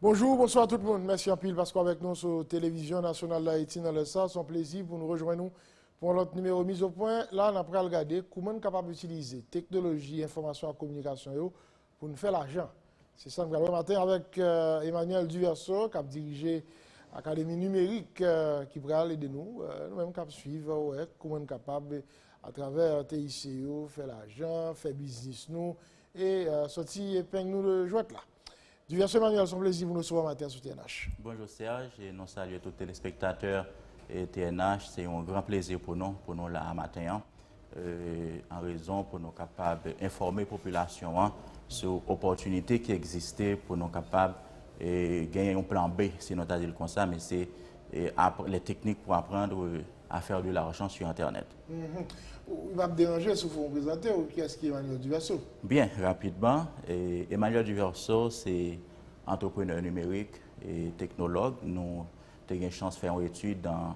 Bonjou, bonswa tout moun. Mèsi anpil paske w avèk nou sou Televizyon Nasyonal Dayiti nan lè sa. Son plezi pou nou rejwenn nou pou yon lòt nimewo Mizo Pwen. La, n ap pral gade kouman n kapab itilize teknoloji enfòmasyon ak kominikasyon yo Pou n fè lajan. Se sa n pral wè maten avèk Emmanuel Duverseau k ap dirije Akademi Nimerik ki pral ede nou, nou menm k ap suiv, wè kouman n kapab atravè TIC yo fè lajan, fè biznis nou e sòti epeng nou de jwèt la. Duverseau Emmanuel, s on plezi pou n resevwa w maten an sou TNH. Bonjou Serge e nou salye tout telespektatè TNH. Se yon gran plezi pou nou pou nou la a maten an. an rezon pou nou kapab enfòme popilasyon an sou opòtinite ki egziste pou nou kapab genyen yon plan B, si nou ta di l konsa, men se les techniques pour apprendre à faire de l'argent sur internet. Ou pa p deranje si w fè yon prezante w, kiyès ki Emmanuel Duverseau? Byen, rapidman, Emmanuel Duverseau se antreprenè nimerik, teknològ, nou te gen chans fè yon etid an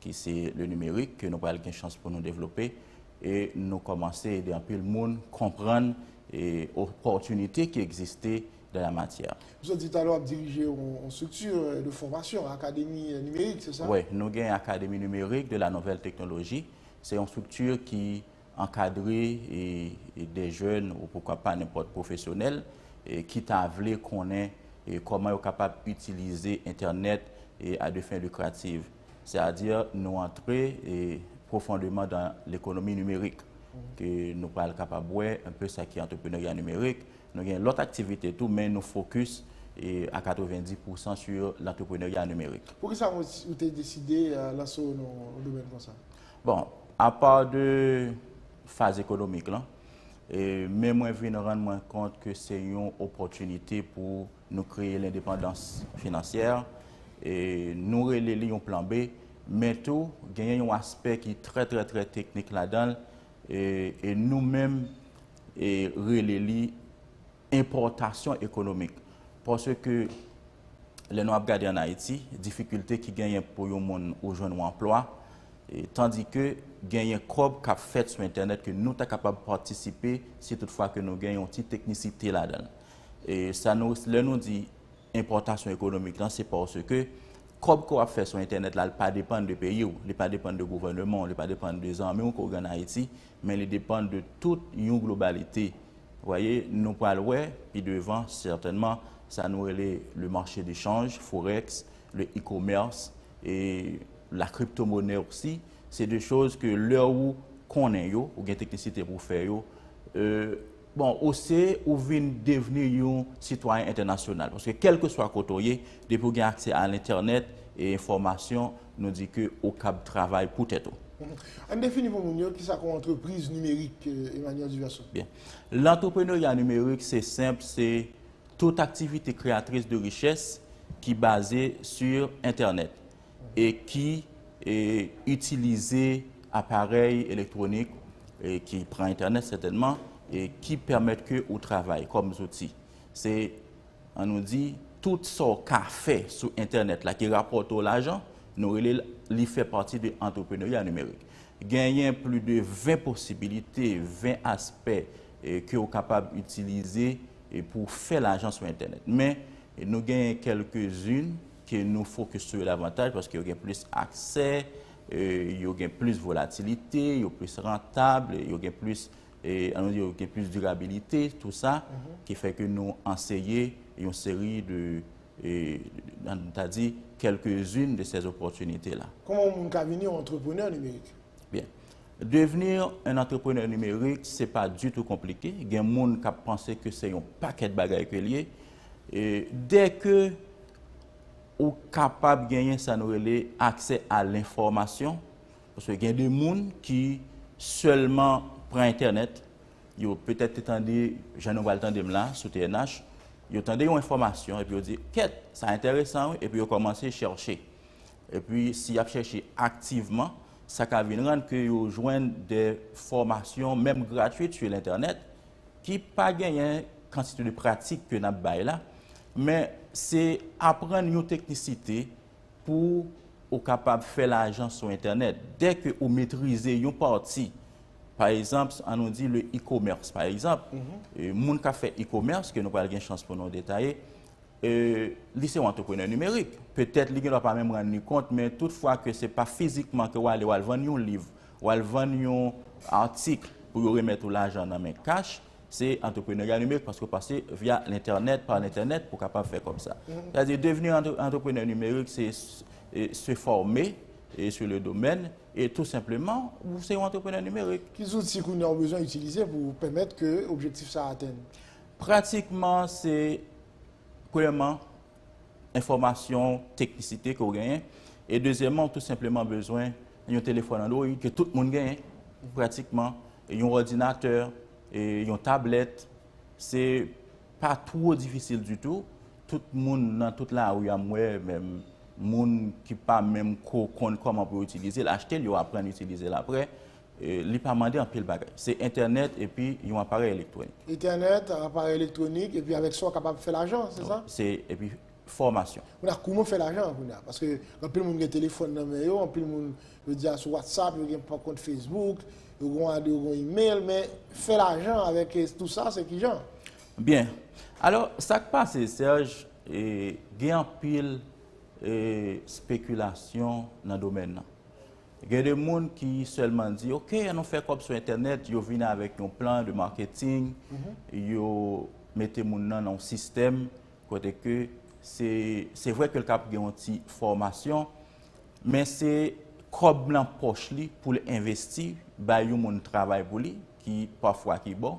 ki se le nimerik ke nou pral gen chans pou nou devlope e nou komanse ede anpil moun konprann e opòtinite ki egziste dan la matyè. Misye di talè w ap dirije yon strikti de fòmasyon, akademi nimerik, se sa? Wi, nou gen akademi nimerik de la nouvèl teknoloji, se yon strikti ki Ankadre de jèn ou poukwa pa nenpòt pwofesyonèl ki ta vle konnen kòman yo kapab itilize entènèt a de fin lucrative. Se a di nou antre pwofondeman dan lekonomi nimerik ke nou pral kapab wè un peu sa ki antreprenerya nimerik. Nou gen lòt aktivite tou men nou fokis a 90 pou san sur lantreprenerya nimerik. Poukisa ou te deside lanse w nan domèn konsa? Bon, apa de faz ekonomik lan, men mwen vin rann mwen kont ke se yon opòtinite pou nou kreye lendepandans finansyè, nou rele li yon plan B, men tou genyen yon aspè ki trè trè trè teknik ladan l, e nou menm rele li enpòtasyon ekonomik. Paske lè nou ap gade an Ayiti, difikilte ki genyen pou yon moun ou jwenn yon anplwa, tandike genyen kòb k ap fèt sou entènèt ke nou ta kapab patisipe si tout fwa ke nou gen yon ti teknisite ladan l. Sa nou, lè nou di enpòtasyon ekonomik lan, se paske kòb ke w ap fè sou entènèt la, li pa depann de peyi w, li pa depann de gouvèneman w, li pa depann de zanmi w ke w gen an Ayiti, men li depann de tout yon globalite. Vous voyez, nou pral wè pi devan sètènman sa nou rele le marché de change, forex, le e-commerce et la cryptomonnaie aussi, se de choses ke lè ou konnen yo, ou gen teknisite pou fè yo, bon, ou se, ou vin devni yon sitwayen entènasyonal. Paske kèlkeswa kote ou ye, depi ou gen aksè a l'entènèt e enfòmasyon, Nou di ke ou kab travay pou tèt ou. Ann defini pou moun yo ki sa kon antrepriz nimerik Emmanuel Duverseau. Byen. Lantreprenerya nimerik se senp se tout aktivite kreyatris de richès ki baze su entènèt e ki e itilize aparèy elektwonik e ki pran entènèt sètènman e ki pèmèt ke ou travay kòm zouti. Se An nou di, tout sa w ka fè sou entènèt la ki rapòte w lajan, nou rele l, li fè pati de antreprenerya nimerik. Genyen pli de 20 posibilite, 20 aspè ke w kapab itilize pou w fè lajan sou entènèt. Men, nou genyen kèlkezin ke nou fokis sou yo davantaj paske yo gen plis aksè, yo gen plis volatilite, yo plis rantab, yo gen plis e an nou di yo gen plis dirabilite tou sa, ki fè ke nou anseye yon seri de, an nou ta di, kèlke zin de sè zopòtinite la. Kouman yon moun ka vini yon antreprenè nimerik? Byen, devni yon antreprenè nimerik, se pa ditou konplike, gen moun kap panse ke se yon pakèt bagay ke li ye, e dè ke ou kapab genyen sa nou rele aksè a lenfòmasyon, Paske gen de moun ki sèlman pran entènèt, yo petèt te tande, jan nou pral tande m la, sou TNH, yo tande yon enfòmasyon epi yo di, kèt, sa entèresan wi, epi yo kòmanse chèche. Epi si y ap chèche aktivman, sa ka vin rann ke yo jwenn de fòmasyon, menm gratwit su lentènèt, ki pa genyen kantite de pratik ke n ap bay la, men se aprann yon teknisite pou ou kapab fè lajan sou entènèt. Dè ke ou metrize yon pati, pa egzanp, an nou di le e-commerce, pa egzanp, moun kap fè e-commerce, ke nou pral gen chans pou nou detaye, li se yon antreprenè nimerik. Petèt li gen dwa pa menm rann li kont, men tout fwa ke se pa fizikman ke ou ale, ou al vann yon liv, ou al vann yon article pou yo remèt ou lajan nan men kach, Se entreprenarya nimerik paske ou pase via l'entènèt, par l'entènèt pou kapab fè kòb sa. Sa di devni entreprenè nimerik se se fòme sou le domèn e tou senpleman ou se yon entreprenè nimerik. Ki zouti kounye a ou bezwen itilize pou ou pèmèt ke objektif sa atenn? Pratikman se premyèman enfòmasyon teknisite ke w genyen. E dezyèman, ou tou senpleman bezwen yon telefòn Android ke tout moun genyen pratikman, yon òdinatè, yon tablèt. Se pa two difisil ditou. Tout moun nan tout lari a m wè, menm moun ki pa menm ko konn kòman pou yo itilize l, achte l, yo aprann itilize l aprè. Li pa mande anpil bagay. Se entènèt epi yon aparèy elektwonik. Entènèt, aparèy elektwonik, epi avèk sa ou kapab fè lajan, se sa? Se, epi fòmasyon. Kounye a, kouman ou fè lajan kounye a? Paske anpil moun gen telefòn nan men yo, anpil moun jodi a sou WhatsApp, yo gen kont Facebook, yo gen ade, yo gen email, men fè lajan avèk tout sa, se ki jan? Byen. Alò, sa k pase, Serge, gen anpil spekilasyon nan domèn nan. Gen de moun ki sèlman di ok an nou fè kòb sou entènèt, yo vin avèk yon plan de marketing, yo mete moun nan nan yon sistèm kote ke se vre ke l kab gen yon ti fòmasyon, men se kòb nan pòch li pou l envesti bay yon moun travay pou li ki pafwa ki bon.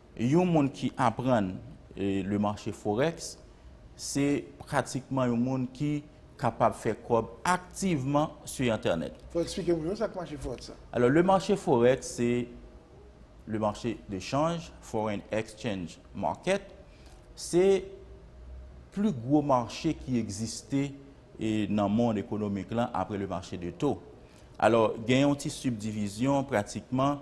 Yon moun ki aprann le marché forex se pratikman yon moun ki kapab fè kòb aktivman su entènèt. Fò eksplike moun yo sa k marché forex la. Alò le marché forex se le marché de chanj, foreign exchange market, se plu gwo marché ki egziste nan mond ekonomik lan apre le marché de taux. Alò gen yon ti subdivision pratikman.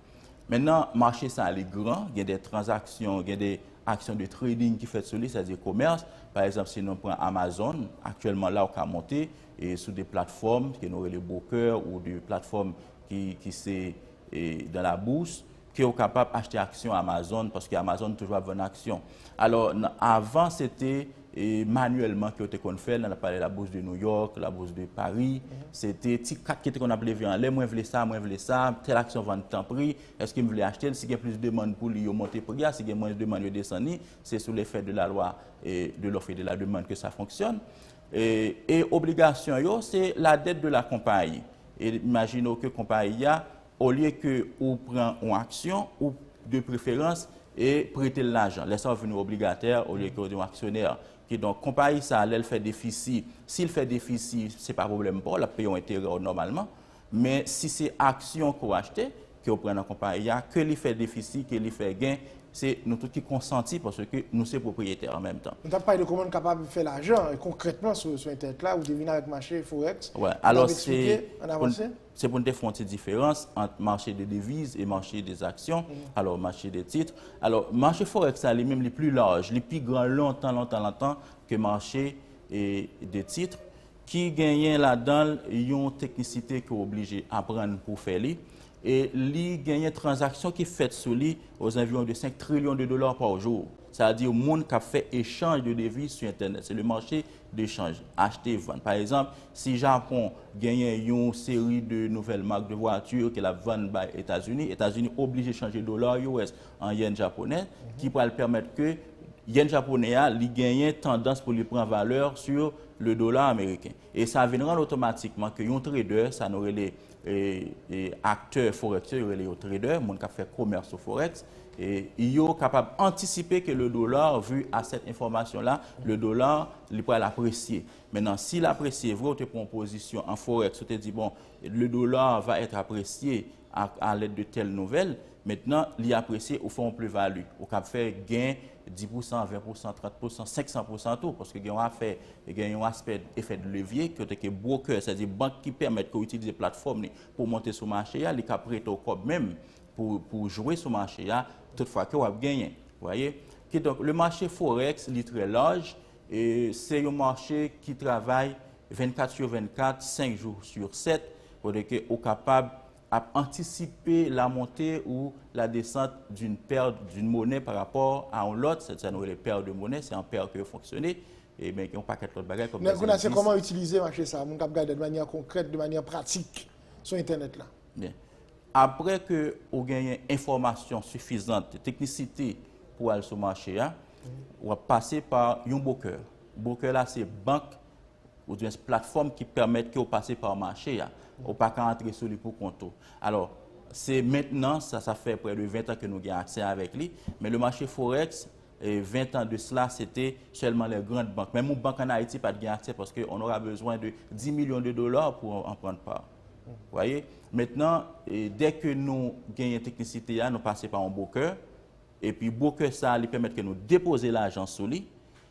Men nan mache sa li gran, gen de tranzaksyon, gen de aksyon de trading ki fèt sou li, sa di komèrs, pa egzanp si nou pran Amazon, aktyèlman la ou ka monte sou de platfòm ke nou rele bokè ou de platfòm ki se dan la bous, ke ou kapab achte aksyon Amazon, paske Amazon toujou ap vann aksyon. Alò, avan se te. manyèlman ke yo te konn fè nan palè la Bourse de New York, la Bourse de Paris, se te ti kat ki te konn ap leve anlè, mwen vle sa, mwen vle sa, tèl aksyon vann tanpri, èske m vle achte l, si gen plis demann pou li yo monte pri a, si gen mwens demann yo desann li, se sou lefè de la lwa de l'offre et de la demande ke sa fonksyòn. E obligasyon yo, se la dette de la konpayi. E imajine w ke konpayi a, Olye ke ou pran yon aksyon, ou, de preferans, e prete l lajan. Lè sa ou vin yon obligatè olye ke ou yon aksyonè. Kidonk, konpayi sa a, lè l fè defisi, si l fè defisi, se pa pwoblèm pa w, l ap peye yon enterè w nòmalman. Men, si se aksyon ke w achte, ke ou pran nan konpayi a, ke li fè defisi, ke li fè gen, se nou tout ki konsanti paske nou se pwopriyetè an menm tan. Nou t ap pale de kouman nou kapab fè lajan, e konkrètman sou entènèt la, ou te vin avèk mache Forex, ou t ap esplike, ann avanse. Se pou n te fè yon ti diferans ant mache de deviz e mache de zaksyon, alò mache de tit. Alò, mache forèks la li menm li pli laj, li pi gran lontan lontan lontan ke mache de tit ki genyen ladan l yon teknisite ke w oblije aprann pou w fè li. E li genyen tranzaksyon ki fèt sou li ozanviwon de 5 trilyon de dola pa jou. Sa vle di moun k ap fè echanj de deviz sou entènèt. Se le mache de chanj, achte vann. Pa egzanp, si Japon genyen yon seri de nouvèl mak de vwati ke l ap vann bay Etazini, Etazini oblije chanje dola US an yen japonè ki pral pèmèt ke yen japonè a li genyen tandans pou li pran valè sou le dola ameriken. E sa vin rann otomatikman ke yon trader, sa nou rele Aktè Forex yo, yo rele yo trader, moun kap fè komès sou Forex, yo kapab antisipe ke le dollar vu a cette information là, le dollar li pral apresye. Menan si l apresye vre, ou te pran pozisyon an Forex, ou te di bon, le dollar va être apprécié à l'aide de telle nouvelle, Mentnan, li apresye ou fè yon pluvali. Ou kab fè gen 10 pousan, 20 pousan, 30 pousan, 500 pousan tou. Paske gen yon afè, gen yon aspè efè de levye, kote ke brokè, sa di bank ki pèmèt ke ou itilize platfòm li pou ou monte sou mache a, li ka prete ou kòb menm pou ou jwe sou mache a, tout fwa ke wap genyen. Vwayè? Kidonk, le mache Forex, li trè laj, e se yon mache ki travay 24 sur 24, 5 jou sur 7, kote ke ou kapab ap antisipe la monte ou la desant d'une paire d'une monnaie par rapport à yon lòt, sè sa nou rele paire de monnaie, se an paire ke yo fonksyone, e men gen yon pakèt lòt bagay kòm dèzè endis. Mè kounye a se kòman itilize mache sa a, moun k'ap gade de manyè konkrèt, de manyè pratik sou entènèt la. Byen, aprè ke ou genyen enfòmasyon sifizant de teknisite pou al sou mache a, w'ap pase pa yon bokè. Bokè la se bank oudwyen s platfòm ki pèmèt ke w pase pa mache a, ou pa ka antre sou li pou kont ou. Alò, se mentnan, sa sa fè prè de 20 tan ke nou gen aksè avèk li, men le mache forex, 20 tan de sla, se te sèlman lè grand bank, menm yon bank an Ayiti pa t gen aksè paske on ora bezwen de 10 milyon de dola pou w an pran pa. Vwaye? Mentnan, dè ke nou genyen teknisite a, nou pase pa yon bwokè, epi bwokè sa li pèmèt ke nou depoze lajan sou li,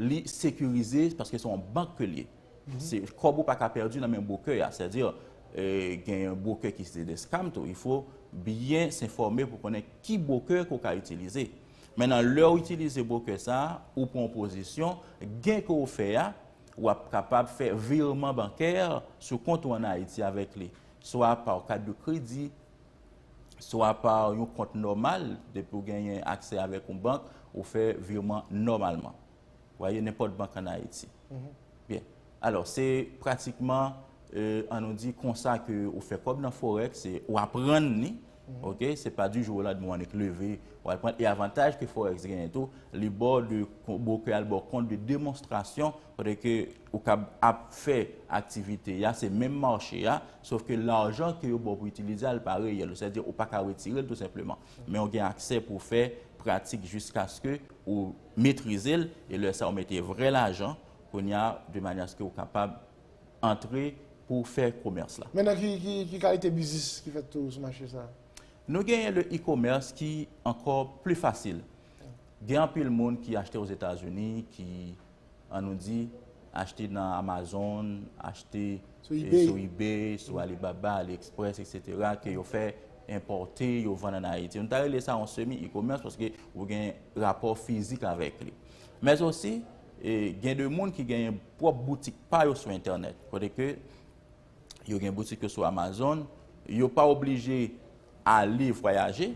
Li sekirize paske se yon bank ke l ye. Kòb ou pa ka pèdi nan men bwokè a. Sè di, gen yon bwokè ki se de scam tou. Il fo byen se fòme pou konnen ki bwokè ke w ka itilize. Men nan lè ou itilize bwokè sa, ou pran yon pozisyon, gen ke w fè a, w ap kapab fè virman bankè sou kont ou an Ayiti avèk li. Swa pa yon kat de kredi. swa pa yon kont nòmal, depi ou genyen aksè avèk yon bank, ou fè virman nòmalman. Ou aye nenpòt bank an Ayiti. Byen. Alò, se pratikman, an nou di, konsa ke ou fè kòb nan Forex, se ou aprann li, ok, se pa di jou o landmen ou annik leve, ou al prann. E avantaj ke Forex genyen tou, li ba w de, bo ke al ba w kont de demonstrasyon, kote ke Ou kab ap fè aktivite ya, se menm mache ya, sof ke lajan ke yo ba w pou itilize a, li pa reyèl. Ou sètadi ou pa ka retire l tou senpleman. Men ou gen aksè pou w fè pratik jiskaske ou metrize l, e lè sa ou mete vrè lajan, kounye a, de manyè aske ou kapab antre pou w fè komès la. Men nan ki kalite biznis ki fèt tou sou mache sa a? Nou genyen le e-commerce ki ankò pli fasil. Gen anpil moun ki achte Ozetazini, ki an nou di, achte nan Amazon, achte sou ebay, sou Alibaba, Aliexpress, etc. Ke yo fè enpòte, yo vann an Ayiti. Nou ta rele sa yon semi e-commerce paske ou gen rapò fizik avèk li. Mèz osi, gen de moun ki gen pwòp boutik pa yo sou entènèt. Kote ke... Yo gen boutik yo sou Amazon. Yo pa oblije ale vwayaje.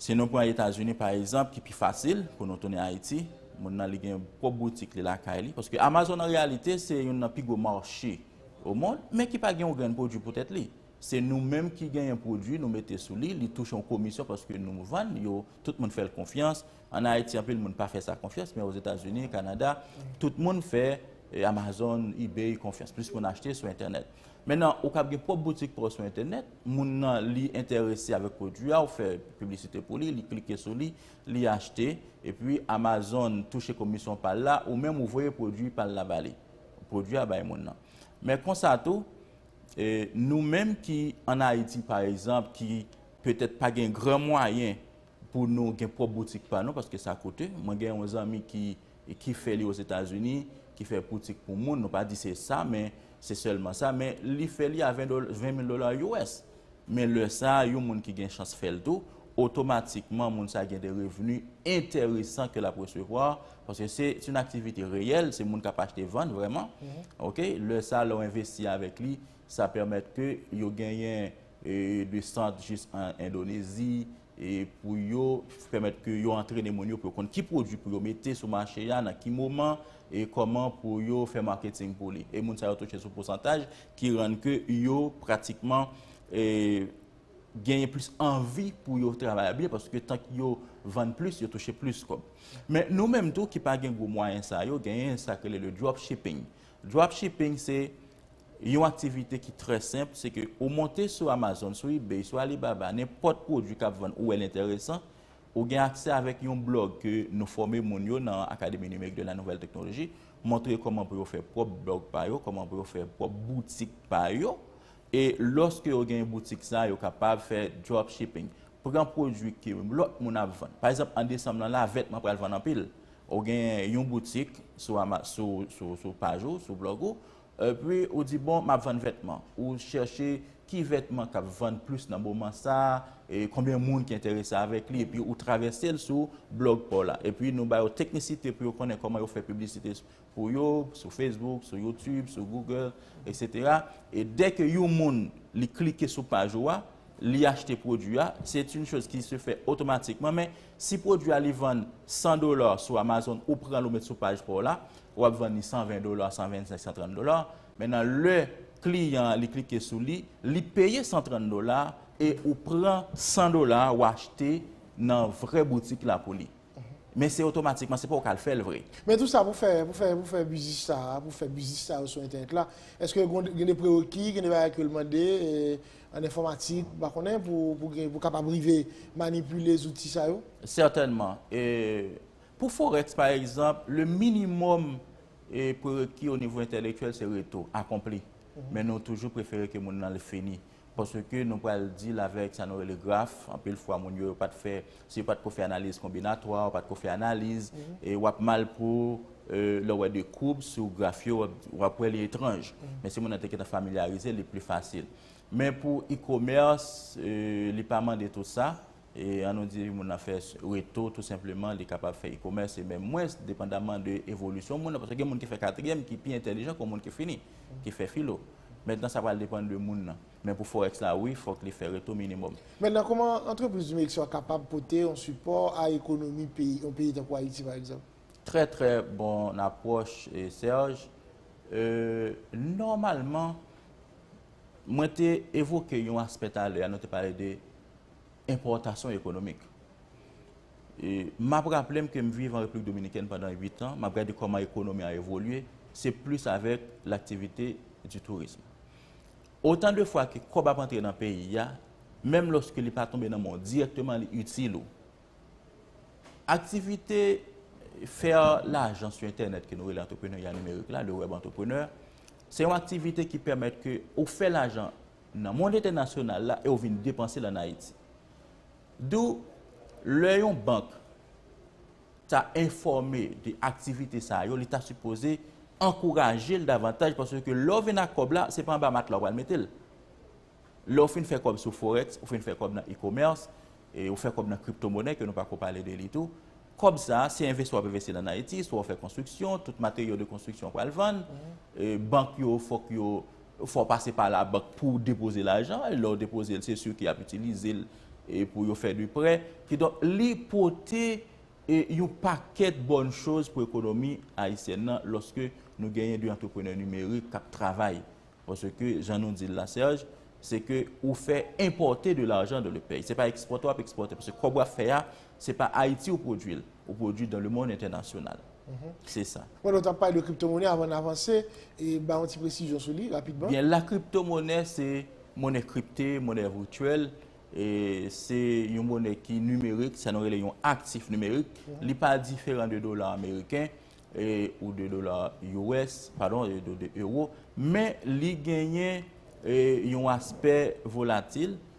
Si nou pran Etazini pa egzanp ki pi fasil pou nou tounen Ayiti, moun nan li gen pwòp boutik li lakay li. Paske Amazon an reyalite se youn nan pi gwo mache o mond, men ki pa gen yon grenn pwodui pou tèt li. Se nou menm ki genyen pwodui nou mete sou li, li touche yon komisyon paske nou vann yo, tout moun fè l konfyans, An Ayiti anpil moun pa fè sa konfyans men Ozetazini, Kanada, tout moun fè Amazon, Ebay konfyans. Plis moun achte sou entènèt. Mennen ou kab gen pwòp boutik pa w sou entènèt, moun nan li enterese avèk pwodui a, ou fè piblisite pou li, li klike sou li, li achte, epi Amazon touche komisyon pa l la, ou menm ou voye pwodui pa l la ba li. Pwodui a bay moun nan. Men konsa tou, nou menm ki an Ayiti pa egzanp ki petèt pa gen gran mwayen Pou nou gen pwòp boutik pa nou paske sa koute. Mwen gen yon zanmi ki ki fè li Ozetazini, ki fè boutik pou moun, nou pa di se sa men se sèlman sa men li fè li a 20 dola, 20 mil dola US. Men lè sa yon moun ki gen chans fè l tou, otomatikman moun sa gen de revni enteresan ke l ap resevwa paske se se yon aktivite reyèl, se moun k ap achte vann vrèman. Ok, lè sa lè w envesti avèk li sa pèmèt ke yo genyen. de sant jis an Endonezi pou yo pèmèt ke yo antrene moun yo pou yo konn ki pwodwi pou yo mete sou mache a, nan ki moman e kòman pou yo fè marketing pou li. E moun sa yo touche sou pousantaj ki rann ke yo pratikman genyen plis anvi pou yo travay a byen paske tank yo vann plis yo touche plis kòb. Men nou menm tou ki pa gen gwo mwayen sa yo genyen sa ki rele le dropshipping. Dropshipping se Yon aktivite ki trè senp, se ke ou monte sou Amazon, sou ebay, sou Alibaba, nenpòt pwodwi kap vann ou wèl entèresan, ou gen aksè avèk yon blòg ke nou fòme moun yo nan Akademi Nimerik de la Nouvèl Teknoloji, montre kòman pou yo fè pwòp blòg pa yo, kòman pou yo fè pwòp boutik pa yo, e lòske yo gen boutik sa, yo kapab fè dropshipping, pran pwodwi ke lòt moun ap vann. Pa egzanp an desanm lan la, vètman pral vann anpil, Ou gen yon boutik sou paj ou, sou blog ou, epi ou di bon map vann vètman. Ou chèche ki vètman kap vann plis nan moman sa, e konbyen moun ki enterese avèk li, epi ou travèse l sou blog pa w la. Epi nou ba yo teknisite pou yo konnen kòman yo fè piblisite pou yo, sou Facebook, sou YouTube, sou Google, etc. E dè ke yon moun li klike sou paj ou a, li achte pwodwi a, se t yon choz ki se fè otomatikman, men. Si pwodwi a li vann 100 dola sou Amazon ou pranl ou met sou paj paw la, ou ap vann li 120 dola, 125, 130 dola, men nan lè kliyan an li klike sou li, li peye 130 dola e ou pran 100 dola ou achte nan vrè boutik la pou li. Men se otomatikman, se pa ou kal fèl vre. Men tou sa pou fè, pou fè, pou fè biznis sa a, pou fè biznis sa yo sou entènèt la, eske gen de prereki, gen de bagay ke l mande, An enfòmatik, m pa konnen, pou w kapab rive manipile zouti sa yo? Sètènman. Pou Forex, pa egzanp, le minimòm prereki onivo entèlektyèl se reto, akonpli. Men nou toujou prefere ke moun nan li fini. Paske nou pral deal avèk sa nou rele graf, anpil fwa moun yo yo pa t fè. Si yo pa t ko fè analiz konbinatwa, yo pa t ko fè analiz, w ap mal pou lè w wè de koub sou graf yo, w ap wè li etranj. Men si moun nan te gentan familyarize, li pli fasil. Men pou e-komès, li pa mande tout sa. An nou di moun nan fè reto tou senpleman, li kapab fè e-komès e menm mwens, depandaman de evolisyon moun nan. Paske gen moun ki fè katriyèm ki pi entèlijan ke moun ki fini, ki fè filo. Mentnan sa pral depann de moun nan. Men pou forex la wi fok li fè retou minimum. Mentnan koman antrepriz du Mexico a kapab pote yon sipò a ekonomi peyi yon peyi tankou Ayiti pa egzanp? Trè trè bon apwòch Serge. Nòmalman mwen te evoke yon aspè talè a nou te pale de enpòtasyon ekonomik. M ap raple m ke m viv an Repiblik Dominikèn pandan 8 an, m ap gade kòman ekonomi a evolye, se plis avèk laktivite du tourisme. Otan de fwa ke kòb ap antre nan peyi a, menm lòske li pa tonbe nan men w dirèkteman li itil ou. Aktivite fè lajan sou entènèt ke nou rele antreprenerya nimerik la, le web entrepreneur, se yon aktivite ki pèmèt ke ou fè lajan nan mond entènasyonal la e ou vin depanse l an Ayiti. Dou, lè yon bank, ta enfòme de aktivite sa yo, li ta sipoze ankouraje l davantaj paske lè w vin ak kòb la, se pa anba matla w pral mete l. Lè w fin fè kòb sou forex, ou fin fè kòb nan e-commerce, ou fè kòb nan kriptomonè ke nou pako pale de li tou, kòb sa se envesti w ap envesti l an Ayiti, swa w fè konstriksyon, tout materyo de konstriksyon w pral vann, bank yo fòk yo Fò w pase pa labank pou w depoze lajan, e lè w depoze l, se si ki ap itilize l pou yo fè de prè. Kidonk, li pote yon pakèt bòn choz pou ekonomi ayisyèn nan lòske nou genyen de antreprenè nimerik k ap travay. Paske, jan nou di l la Serge, se ke ou fè enpòte de lajan dan le peyi. Se pa ekspòte w ap ekspòte. Paske kòb w ap fè a, se pa Ayiti ou pwodui l. Ou pwodui dan le mond entènasyonal. Se sa. Mwen wè w t ap pale de kriptomonè avan n avanse, bay yon ti presizyon sou li rapidman. Byen, la kriptomonè se monè kripte, monè vityèl, se yon monè ki nimerik, sa nou rele yon aktif nimerik, li pa diferan de dola ameriken ou de dola US, padon, de euro, men li genyen yon aspè volatil.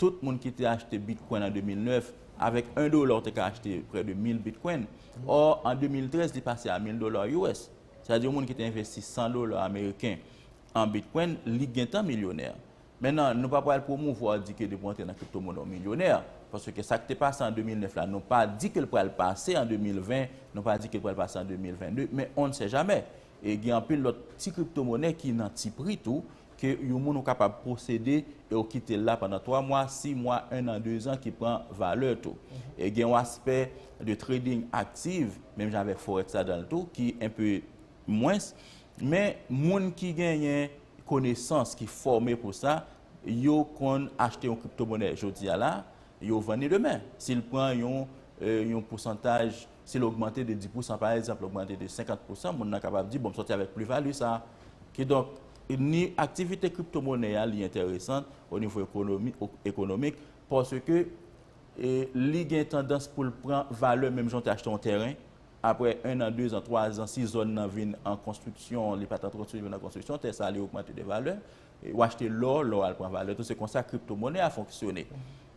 Tout moun ki te achte Bitcoin an 2009, avèk 1 dola ou te ka achte prè de 1000 Bitcoin. Ò, an 2013 li pase a 1000 dola US. Sa vle di yon moun ki te envesti 100 dola ameriken an Bitcoin, li gentan milyonè. Men nan, nou pa pral pwomouvwa ou di ke depi ou antre nan kripto mone ou milyonè. Paske ke sa ki te pase an 2009 la, nou pa di ke li pral pase an 2020, nou pa di ke li pral pase an 2022, men on ne sait jamais. E gen anpil lòt ti kripto mone ki nan ti pri tou, Ke yon moun ou kapab posede e ou kite l la pandan 3 mwa, 6 mwa, 1 an, 2 zan ki pran valè tou. E gen yon aspè de trading aktiv, menm jan avèk forex ladan l tou, ki enpe mwens. Men moun ki genyen konesans, ki fòme pou sa, yo konn achte yon kriptomonè jodi a la, yo vann li demen. Si l pran yon pousantaj. Si l ogmante de 10 pousan, pa egzanp, l ogmante de 50 pousan, moun nan kapab di, bon, m sòti avèk plivali sa a. Kidonk, ni aktivite kriptomonè a li enteresant o nivo ekonomi, ekonomik, paske li gen tandans pou l pran valè menm jan w te achte yon tèren, aprè ennan, dezan, twazan, si zòn nan vin an konstriksyon, li pa t an konstriksyon, li vin an konstriksyon, tè sa a li ogmante de valè. Ou achte lò, lò a al pran valè tou. Se konsa kriptomonè a fonksyone.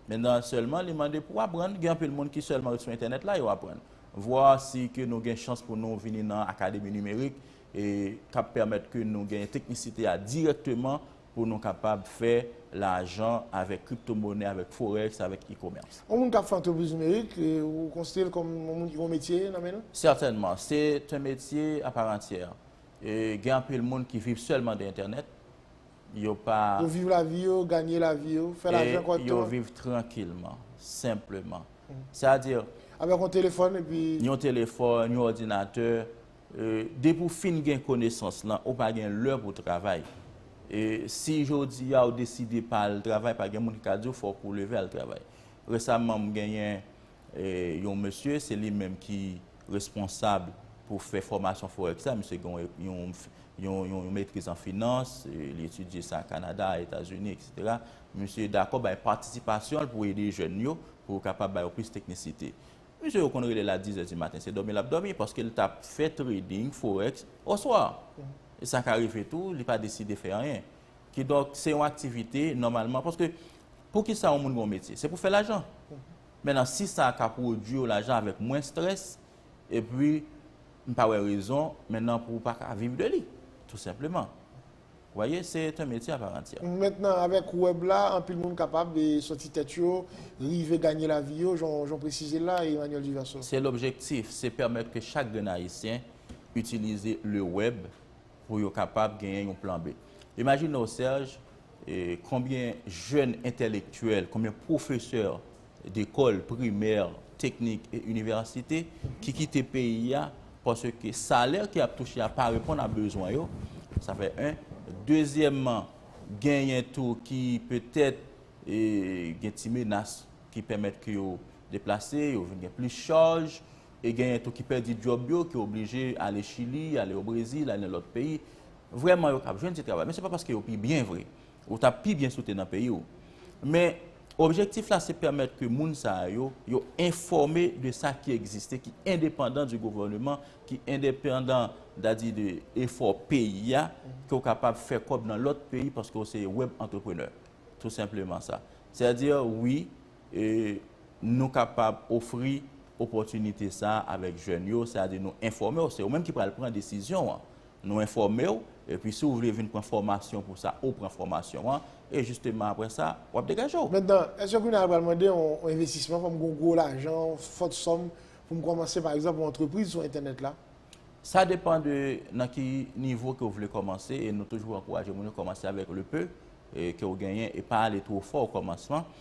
Men nan sèlman li mande pou aprann, gen anpil moun ki sèlman ret sou entènèt la yo aprann. Vwa si ke nou gen chans pou nou vini nan Akademi Nimerik e k ap pèmèt ke nou gen teknisite a dirèkteman pou nou kapab fè lajan avèk kriptomonè, avèk forex, avèk e-commerce. Yon moun k ap fè antrepriz nimerik, ou konsidere l kòm yon moun ki gen yon metye nan men l? Sètènman, se t yon metye aparantyè. Gen anpil moun ki viv sèlman de entènèt. Yo pa. Yo viv lavi yo, ganye lavi yo, fè lajan kòt yo. E yo viv trankilman, senpleman. Sè a di. Avèk yon telefòn epi. Yon telefòn, yon òdinatè. Depi ou fin gen konesans lan, ou pa gen lè pou travay. Si jodi a ou deside pa al travay, pa gen moun ki ka di ou fòk ou leve al travay. Resaman m genyen yon mesye, se li menm ki. responsab pou fè fòmasyon forex la, misye gen yon yon metriz an finans, li etidye sa Kanada, Etazini, etc. Misye dakò bay patisipasyon l pou ede jèn yo, pou yo kapab ba yo plis teknisite. Misye yo konn rele l a dizè di maten, se dòmi l ap dòmi, paske l t ap fè trading forex oswa, e sa ka rive tou, li pa deside fè anyen. Kidonk, se yon aktivite, nòmalman, paske, poukisa yon moun gen yon metye? Se pou fè lajan. Men nan si sa ka pwodwi w lajan avèk mwens strès, epi m pa wè rezon men nan pou w pa ka viv de li, tou senpleman. W voye, se est un métier à part entière. Mentnan avèk wèb la, anpil moun kapab soti tèt yo, rive ganye lavi yo, jan w presize l la, Emmanuel Duverseau. Se lobjektif, se pèmèt ke chak grenn Ayisyen itilize le wèb, pou yo kapab genyen yon plan B. Imajine w Serge, konbyen jèn entèlektyèl, konbyen pwofesè dekòl primè, teknik e inivèsite ki kite peyi a paske salè ke y ap touche a pa reponn a bezwen yo, sa fè 1. Dezyèmman, genyen tou ki petèt gen ti menas ki pèmèt ke yo deplase, yo vin gen plis chaj, e genyen tou ki pèdi djòb yo, ki oblije ale Chili, ale o Brezil, ale nan lòt peyi. Vrèman yo kab jwenn ti travay, men se pa paske yo pi byen vre. Ou t ap pi byen si w te nan peyi w. Men, objektif la se pèmèt ke moun sa a yo, yo enfòme de sa ki egziste, ki endepandan di gouvèneman, ki endepandan, dadi de efò peyi a, ke w kapab fè kòb nan lòt peyi paske w se web entrepreneur. Tou senpleman sa. Sètadi, wi, E nou kapab ofri opòtinite sa a avèk jèn yo, sètadi nou enfòme w, se ou menm ki pral pran desizyon an. Nou enfòme w, epi si ou vle vin pran fòmasyon pou sa, ou pran fòmasyon an, e jisteman apre sa, w ap degaje w. Mentnan, èske kounye a l pral mande yon envestisman, fò m gen yon gwo lajan, yon fòt sòm pou m kòmanse pa egzanp yon antrepriz sou entènèt la? Sa depan de nan ki nivo ke w vle kòmanse, e nou toujou ankouraje moun yo kòmanse avèk le peu ke ou genyen e pa ale two fò o kòmansman.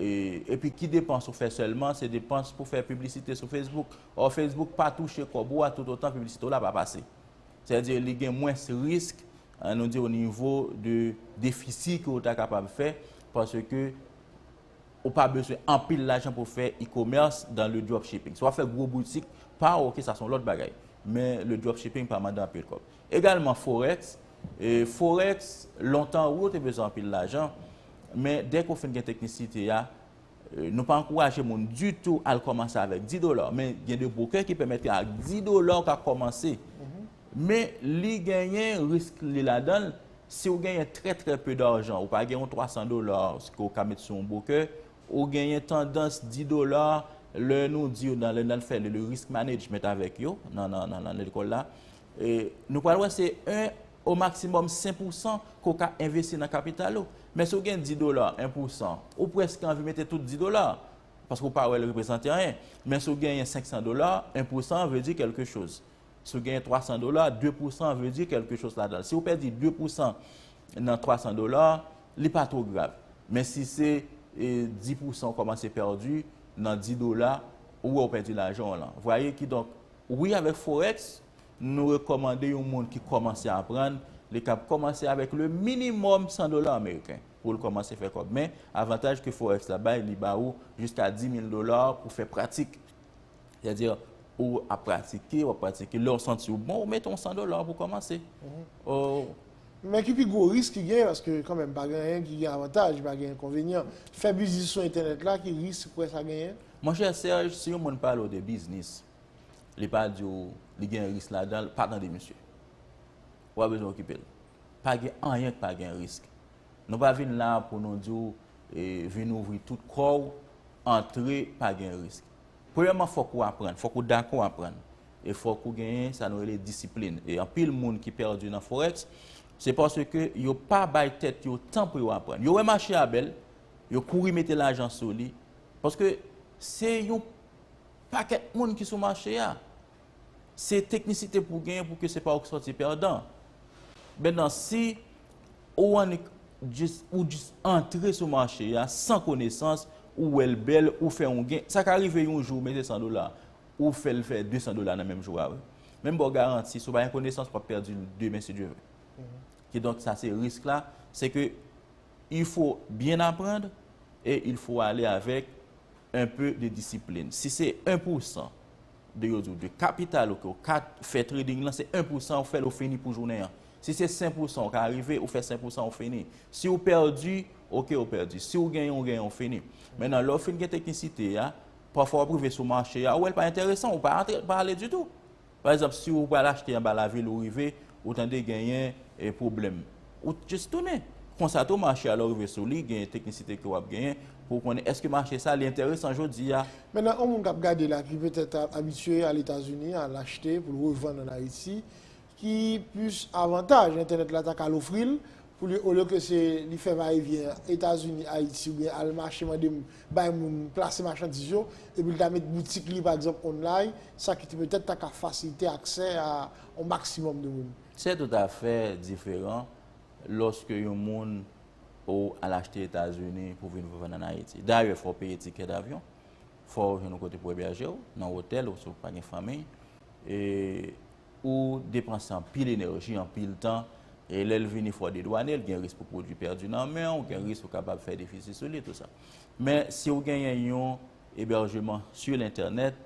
Epi ki depans ou fè sèlman, se depans pou fè piblisite sou Facebook. Or Facebook pa touche kòb ou a toutotan piblisite w la pa pase. Sèdi li gen mwens risk, an nou di o nivo de defisi ke ou ta kapab fè, panse ke ou pa beswen anpil lajan pou fè e-commerce dan le dropshipping. Si w ap fè gwo boutik pa ou, ok, sa son lòt bagay. Men le dropshipping pa mande anpil kòb. Egalman forex, forex lontan wi ou te bezwen anpil lajan, men dèke ou fin gen teknisite ya, nou pa ankouraje moun ditou al kòmanse avèk 10 dola, men gen de bwokè ki pèmèt ke ak 10 dola ou ka kòmanse, men li genyen risk li ladanl, si ou genyen trè trè pe darjan, ou pa gen yon 300 dola ke ou ka met sou yon bwokè, ou genyen tandans 10 dola, lè nou di yo nan lè nal fè le risk management avèk yo nan lekòl la, Nou pral wè se 1 o maksimòm 5 pousan ke w ka envesti nan kapital ou. Men si w gen 10 dola, 1 pousan, ou prèske anvi mete tout 10 dola a. Paske w pa wè l reprezante anyen. Men si w genyen 500 dola, 1 pousan vle di kèlke choz. Si w genyen 300 dola, 2 pousan vle di kèlke choz ladan l. Si w pèdi 2 pousan nan 300 dola, li pa two grav. Men si se 10 pousan w kòmanse pèdi nan 10 dola, ou wè w pèdi lajan w lan. Vwaye kidonk, Wi avèk forex nou rekòmande yon moun ki kòmanse aprann li kab kòmanse avèk le minimòm 100 dola ameriken poul kòmanse fè kòb men avantaj ke forex la bay li ba ou jiska 10000 dola pou fè pratik sè di ou ap pratike wap pratike lèw santi ou bon ou mete yon 100 dola pou kòmanse ou. Men ki pi gwo risk ki gen paske kanmèm pa gen anyen ki gen avantaj pa gen enkonvenyan fè biznis sou entènèt la ki risk ou kwè sa genyen? Mon chè Serge si yon moun pale w de biznis li pa di w li gen risk ladan l pa tande misye. Ou pa bezwen okipe l. Pa gen anyen k pa gen risk. Nou pa vin la a pou nou di w vin ouvri tout kò w antre pa gen risk. Premyèman fòk ou aprann, fòk ou dakò aprann e fòk ou genyen sa nou rele disiplin e anpil moun ki pèdi nan forex se paske yo pa bay tèt yo tan pou yo aprann. Yo wè mache a bèl, yo kouri mete lajan sou li Paske se yon pakèt moun ki sou mache a. Se teknisite pou genyen pou ke se pa ou ki sòti pèdan. Mètnan, si ou annik jis, ou jis antre sou mache a san konesans, ou wè l bèl, ou fè yon gen, sa ka rive yon jou ou mete 100 dola, ou fè l fè 200 dola nan menm jou a wi. Men m ba w garanti, si w pa gen konesans, w ap pèdi l demen si Dye vle. Kidonk sa se risk la, se ke Il faut bien apprendre et il faut aller avec un peu de discipline. Si se 1 pou 100 de yo di w de kapital ou ke w ka fè trading lan, se 1 pou 100 ou fè l ou fini pou jounen an. Si se 100 pou 100 ou ka rive, ou fè 100 pou 100 ou fini. Si w pèdi, ok ou pèdi. Si w genyen ou genyen ou fini. Mennan lè w fin gen teknisite a, pafwa w ap rive sou mache a, ou wè l pa enteresan, ou pa antre, ou pa ale ditou. Pa egzanp si ou pral achte anba lavil ou rive ou tande genyen pwoblèm, ou just tounen. Konsa tou mache a lè ou rive sou li genyen teknisite ke wap genyen pou ou konnen èske mache sa li enteresan jodi a. Mennen on moun kap gade la ki petèt abitye al Etazini al achte poul revann an Ayiti ki plis avantaj entènèt la ta ka al ofril Pou li olye ke se li fè va e vyen Etazini, Ayiti oubyen al mache mande bay moun plase machandiz yo, epi li ta met boutik li pa egzanp online, sa ki petèt ta ka fasilite aksè a yon maksimòm de moun. Se toutafè diferan lòske yon moun ou al achte Etazini pou vin revann an Ayiti. Dayè fò w peye tikè davyon, fò w jwenn yon kote pou ebèje w, nan otèl ou si w pa gen fanmiy, e. Ou depanse anpil enèji, anpil tan, e lè l vini fwa dedwane, gen risk pou pwodui pèdi nan men w, gen risk ou kapab fè defisi sou li, tout sa. Men, si ou genyen yon ebèjeman su lentènèt,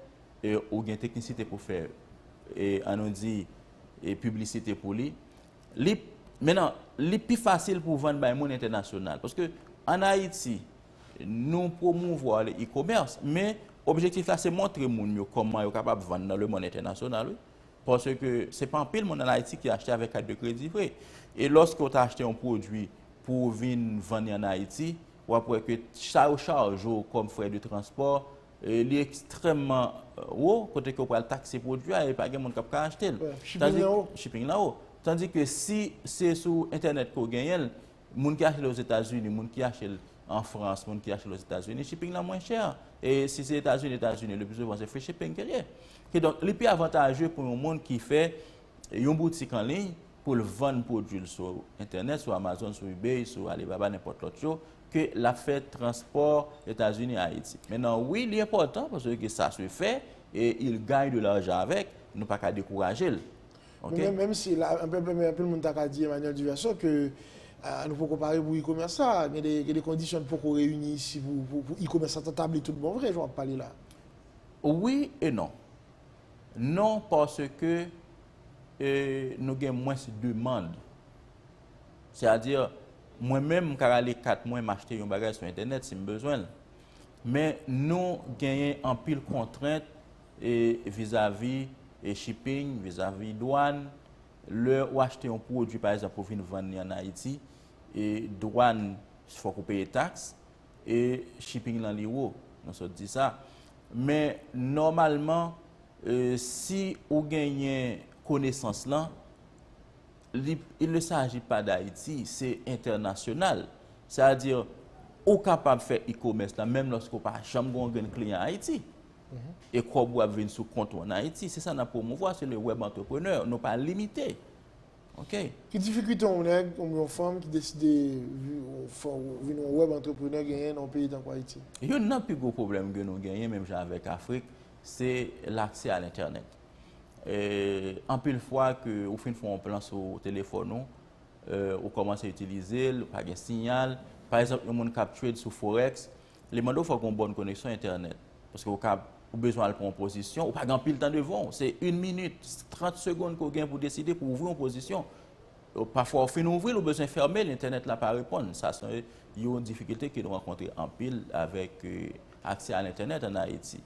e ou gen teknisite pou fè, e an nou di, e piblisite pou li, li, mennan, li pi fasil pou w vann bay moun entènasyonal. Paske, an Ayiti, Nou pwomouvwa le e-commerce, men objektif la se montre moun yo kòman yo kapab vann nan lemonn entènasyonal wi. Paske se pa anpil moun an Ayiti ki achte avèk kat de kredi vre. E lòske ou ta achte yon pwodui pou ou vin vann li an Ayiti, w ap wè ke sa yo chaje w kòm frè de transpò, li ekstrèmman wo, kote ke ou pral takse pwodui a e pa gen moun k ap ka achte l. Shipping lan wo. Shipping lan wo. Tandike si se sou entènèt ke ou genyen l, Moun ki achte l Ozetazini, moun ki achte l an Frans, moun ki achte l Ozetazini, shipping lan mwen chè. E si se Etazini, Etazini, le pi souvan se free shipping ke l ye. Kidonk, li pi avantaje pou yon moun ki fè yon boutik an liy pou l vann pwodui l sou entènèt, sou Amazon, sou Ebay, sou Alibaba, nenpòt lòt yo, ke l ap fè transpò Etazini, Ayiti. Mennan, wi, li enpòtan, paske sa se fè, e il gagne de l'argent avec, nou pa ka dekouraje l. Ok. Men menm si la anpil anpil men anpil moun ta ka di Emmanuel Duverson ke nou poko pare pou e-commerce sa, gen de gen de kondisyon ki poko reyini isi pou pou e-commerce sa ta tabli tout bon vre jan wap pale la. Wi e non. Non paske e nou gen mwens demand. Se a di mwen menm m ka rale kat mwen m achte yon bagay sou entènèt si m bezwen l. Men nou genyen anpil kontrent e vizavi e shipping, vizavi dwan, lè ou achte yon pwodwi pa egzanp pou vin vann li an Ayiti, e dwan fòk ou peye taks, e shipping lan li wo, nou sot di sa. Men nòmalman si ou genyen konesans lan, li il ne saji pa d'Ayiti, se entènasyonal. Sa a di ou kapab fè e-commerce la menm lòske ou pa janm gen yon grenn kliyan Ayiti. e kòb ou ap vin sou kont ou an Ayiti. Se sa n ap pwomouvwa, se le web entrepreneur, nou pa limite. Ok. Ki difikilte yon nèg oubyen yon fanm ki deside vin yon web entrepreneur genyen nan yon peyi tankou Ayiti? Youn nan pi gwo pwoblèm ke nou genyen, menm jan avèk Afrik, se laksè a lentènèt. Anpil fwa ke ou fin fè yon plan sou telefòn ou, ou kòmanse itilize l, pa gen siyal. Pa egzanp, yon moun k ap trade sou forex, Li mande w fòk gen yon bòn koneksyon entènèt. Paske ou kab, ou bezwen al pran yon pozisyon, ou pa gen anpil tan devan w. Se yn minit, trant segond ke w gen pou w deside, pou w ouvri yon pozisyon. Pafwa ou fin ouvri l, ou bezwen fèmen l, entènèt la pa reponn. Sa se yon difikilte ke nou rankontre anpil avèk aksè a lentènèt an Ayiti.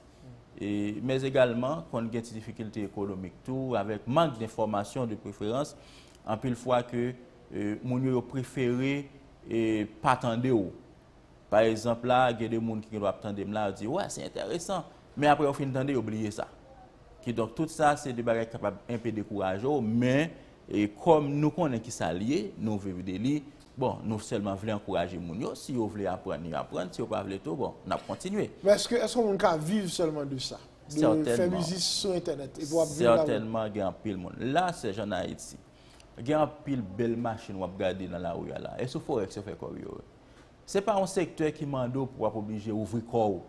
Men egalman, konn gen ti difikilte ekonomik tou, avèk mank de fòmasyon de preferans, anpil fwa ke moun yo yo prefere pa tande w. Pa ezanp la, gen de moun ki gendwa ap tande m la, yo di, wè, se enteresan, men apre yo fin tande, yo bliye sa. Kidonk, tout sa, se de bagay ki kapab enpe dekouraje w, men, kòm nou konnen ki sa l ye, nou viv de li, bon, nou sèlman vle ankouraje moun yo, si yo vle aprann, yo aprann, si yo pa vle tou, bon, n ap kontinye. Men èske, èske yon moun ka viv sèlman de sa? De fè biznis sou entènèt, epi w ap viv la-dan? Sètènman gen anpil moun. La, sèjan, an Ayiti. Gen anpil bèl machin wap gade nan lari a la. E sou forex yo fè kòb yo. Se pa yon sektè ki mande w pou wap oblije ouvri kò w.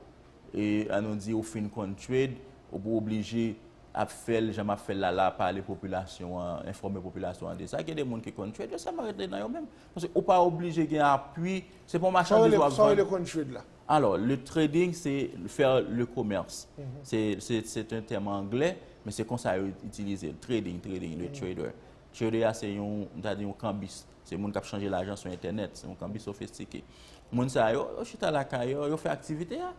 E an nou di ou fin konn trade, ou pou oblije ap fè l jan map fè l la la, pale popilasyon an, enfòme popilasyon an de sa. Gen de moun ki konn trade, yo sèlman rete nan yo menm. Paske ou pa oblije gen apui, se pa yon machandiz wap vann. Sa w rele konn trade la? Alò, le trading se fè le commerce. Se te tèm anglè, men se konsa yo itilize l. Trading, trading, le trader. Trader a se yon, m ta di yon kanbis. Se moun k ap chanje lajan sou entènèt. Se yon kanbis sofistike. Moun sa yo, yo chita lakay yo, yo fè aktivite a.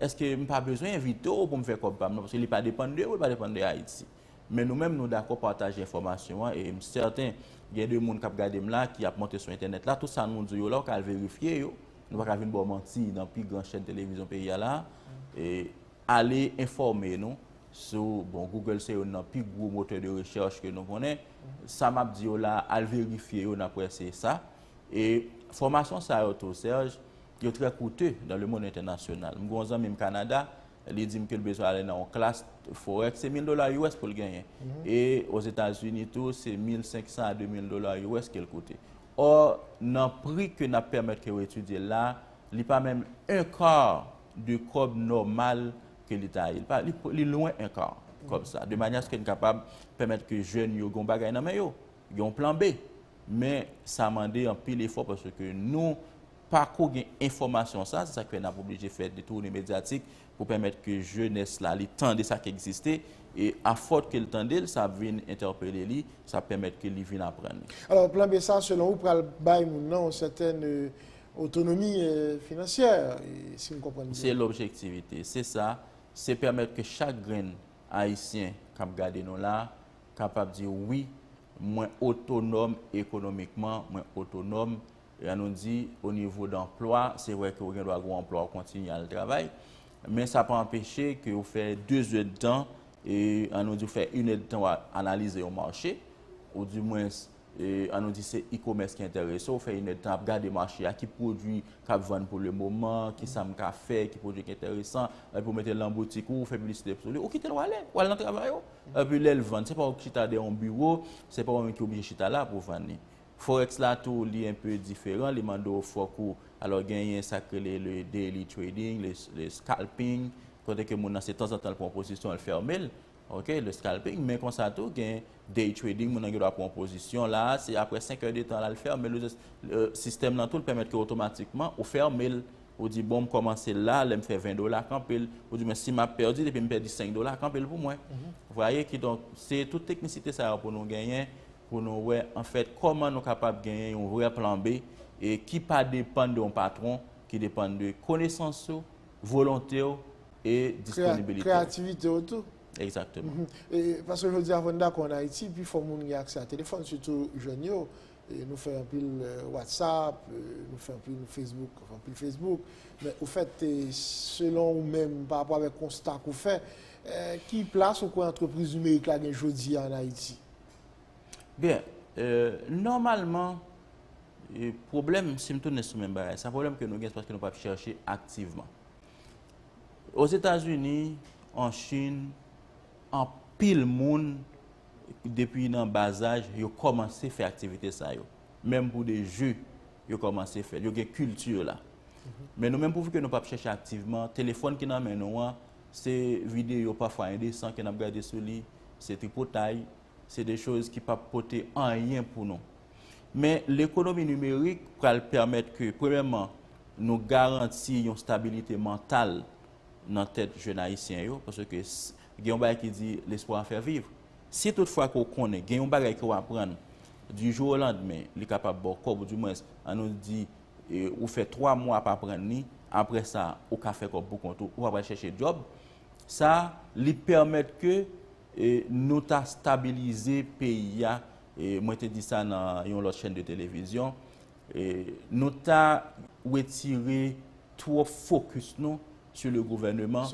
Eske m pa bezwen envite w pou m fè kòb pa m nan? Paske li pa depann de ou, li pa depann de Ayiti. Men nou menm nou dakò pataje enfòmasyon an e m sèten gen de moun k ap gade m la ki ap monte sou entènèt la, tout sa nou di yo la ou ka al verifye yo, nou pa ka vin ba w manti nan pi gran chèn televizyon peyi a la a, e ale enfòme nou sou, bon Google se youn nan pi gwo motè de rechèch ke nou konnen, sa m ap di yo la a al verifye yo napre se sa, e fòmasyon sa yo tou Serge yo trè koute dan le mond entènasyonal, m gen yon zanmi m Kanada. li di m ke l bezwen ale nan yon klas forex, se 1000 dola us pou l genyen. E ozetazini tou se 1500 a 2000 dola us ke l koute. Or nan pri ke n ap pèmèt ke yo etidye l la, li pa menm un quart de kòb nòmal ke li ta ye. Li lwen un quart kòb sa. De manyè aske n kapab pèmèt ke jèn yo gen yon bagay nan men yo, gen yon plan B. Men sa mande anpil efò paske nou. pa ko gen enfòmasyon sa, se sa ki fè n ap oblije fè detoune medyatik pou pèmèt ke jenès la li tande sa ki egziste, e afòt ke l tande l, sa ap vin entèpele li, sa ap pèmèt ke li vin aprann. Alò, plan B sa, selon ou, pral bay moun nan yon sètèn otonomi finansyè, si m konprann byen? Se lobjektivite, se sa, se pèmèt ke chak grenn Ayisyen k ap gade nou la, kapab di wi, mwen otonòm ekonomikman, mwen otonòm Jan nou di, o nivo danplwa, se vre ke ou gen dwa gen yon anplwa ou kontinye al travay, men sa pa anpeche ke ou fè 2 zèdtan, e an nou di ou fè 1 èdtan wap analize yon mache, ou di mwens, e an nou di se e-commerce ki enterese w, ou fè 1 èdtan ap gade mache a, ki pwodwi kap vann pou le moman, ki sa m ka fè, ki pwodwi ki enteresan, epi ou mete l nan boutik ou, ou fè piblisite sou li, ou kite l ou ale, ou al nan travay ou. Epi lè l vann, se pa ou ki chita dèyè yon biwo, se pa ou menm ki oblije chita la pou vann li. Forex la tou li un peu diferan, li mande w fòk ou, alò genyen sa k rele le daily trading, le scalping, kote ke moun nan se tanzantan l pran yon pozisyon l fème l, ok, le scalping, men konsa tou gen day trading moun nan gen dwa pran yon pozisyon la a, se aprè 5 è de tan la l fème l, sistèm lan tou l pèmèt ke otomatikman ou fème l, ou di bon m kòmanse l la, lè m fè 20 dola kanpe l, ou di men si m ap pèdi depi m pèdi 5 dola kanpe l pou mwen, vwaye kidonk se tout teknisite sa yo pou nou genyen. pou nou wè anfèt kòman nou kapab genyen yon vrè plan B e ki pa depann de yon patwon, ki depann de konesans ou, volonte ou e disponibilite ou. Kreyativite ou tou. Egzakteman. Paske jodi a fò n dakò an Ayiti pi fò moun gen aksè a telefòn sitou jèn yo, nou fè anpil watsap, nou fè anpil fesbouk, anpil fesbouk men ofèt selon ou menm pa rapò avèk konsta ke w fè ki plas ou kwè antrepriz nimerik la gen jodi a an Ayiti? Byen, nòmalman, pwoblèm, si m tounen sou menm bagay sa, pwoblèm ke nou gen se paske nou pa chèche aktivman. Ozetazini, an Chin, anpil moun, depi nan bazaj, yo kòmanse fè aktivite sa yo. Menm pou de je, yo kòmanse fè l. Yo gen kilti la. Men nou menm, pouvke nou pa chèche aktivman, telefòn ki nan men nou an, Se videyo pafwa endesan ke nap gade sou li, se tripotay, se de choz ki pap pote anyen pou nou. Men, lekonomi nimerik pral pèmèt ke, premyèman, nou garanti yon stabilite mantal nan tèt jèn Ayisyen yo, paske gen yon bagay ki di, L'espoir en fait vivre. Si tout fwa ke w konnen gen yon bagay ke w aprann, du jour au lendemain, li kapab ba w kòb, ou di mwens, an nou di, ou fè 3 mwa ap aprann li, aprè sa ou ka fè kòb pou kont ou, ou pa pral chèche djòb, sa li pèmèt ke nou ta stabilize peyi a, mwen te di sa nan yon lòt chèn de televizyon, nou ta wetire twòp fokis nou sou le gouvèneman,